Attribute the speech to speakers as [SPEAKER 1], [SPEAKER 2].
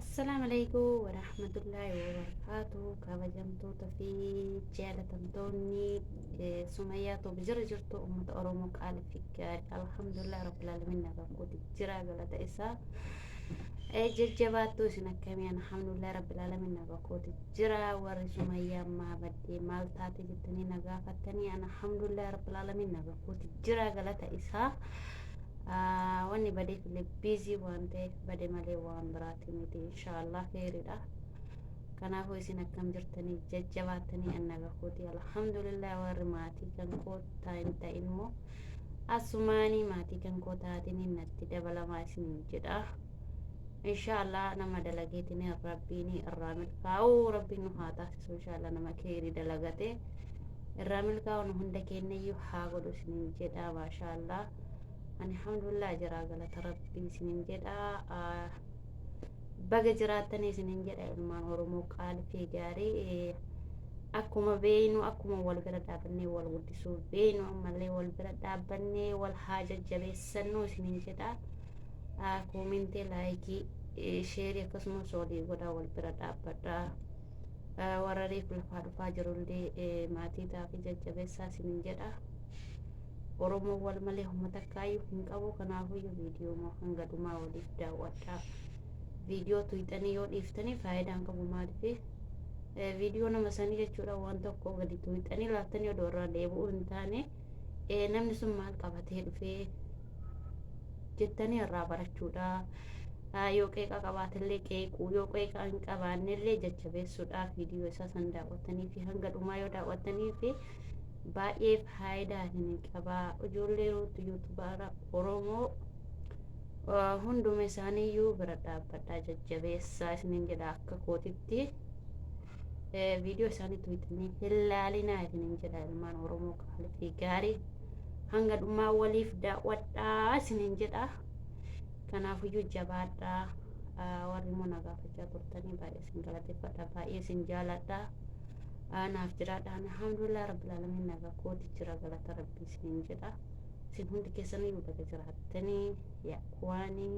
[SPEAKER 1] Assalamu alaikum wa rahmatullahi wa barakatuh. Kabajamtoota fi jaalatamtoonni eh, Sumayyaa Toob jira jirtu uummata Oromoo qaali fi gaarii. Alhamdulillah Rabbil Alamin nagaan kooti jira galata isaa. Eh, Jajjabaattuu isin akkamii alhamdulillah Rabbil Alamin nagaan kooti jira. Warri Sumayyaa ammaa baddee maal taate jettanii na gaafattanii alhamdulillah Rabbil Alamin nagaan kooti jira galata isaa. Wanni badeef illee biizii waan ta'eef bade malee waan biraati miti inshaallah keeyridha. Kanaafuu isin akkam jirtanii jajjabaattanii anna gahuuti alhamdulillah warri maatii kan koo tain ta'in immoo asumaanii maatii kan koo taatiniin natti dabalamaa isiniin jedha. insha allah nama dalageetini rabbiini irraa milkaa'u rabbiin nu haa taasisu insha allah nama keeyri dalagate irraa milkaa'u nu hunda keenyayyuu haa godhu isinin jedha maasha allah ani hamdulillah jira galata rabbii isinin jedha baga jiraattan isinin jedha ilmaan oromoo qaalfii gaarii akkuma beeynu akkuma wal bira dhaabannee wal guddisuu beeynu ammallee wal bira dhaabannee wal haa jajjabeessannu isinin jedha Koomentee laayikii sheerii akkasumas olii godhaa wal bira dhaabbadhaa. Warra reefu lafaa dhufaa jirullee maatii taa'afi jajjabeessaa isinin jedha. Oromoon wal malee uummata kaayyuu hin qabu kanaafuyyuu viidiyoo moo hanga dhumaa waliif daawwadhaa. Viidiyoo tuyxanii yoo dhiiftanii faayidaan qabu maaliifi? Viidiyoo nama sanii jechuudha waan tokko gadi tuyxanii laattanii odoo irraa deebi'uu hin taane. eh, namni sun maal qabatee dhufee jettanii irraa barachuudha. Ah, Yoo qeeqa qabaatellee qeequu, yoo qeeqa hin qabaannellee jajjabeessuudha. Viidiyoo isaa san daawwattanii fi hanga dhumaa yoo daawwattanii fi baay'ee faayidaa isin qaba. Ijoollee ruutu yuutubaara Oromoo ah, hunduma isaaniiyyuu bira dhaabbadhaa jajjabeessaa isinin jedha akka kootitti. viidiyoo isaanii tuyxanii hin laalinaa isinin jedha ilmaan oromoo qaalii fi gaarii hanga dhumaa waliif daawwadhaa isinin jedha kanaafuyyuu jabaadhaa warri immoo na gaafachaa turtanii baay'ee isin galateeffadha baay'ee isin jaaladha naaf jiraadha alhamdulillah rabbil alamin nagaa kooti jira galata rabbii isinin jedha isin hundi keessaniyyuu baga jiraattanii yaa kuwaanii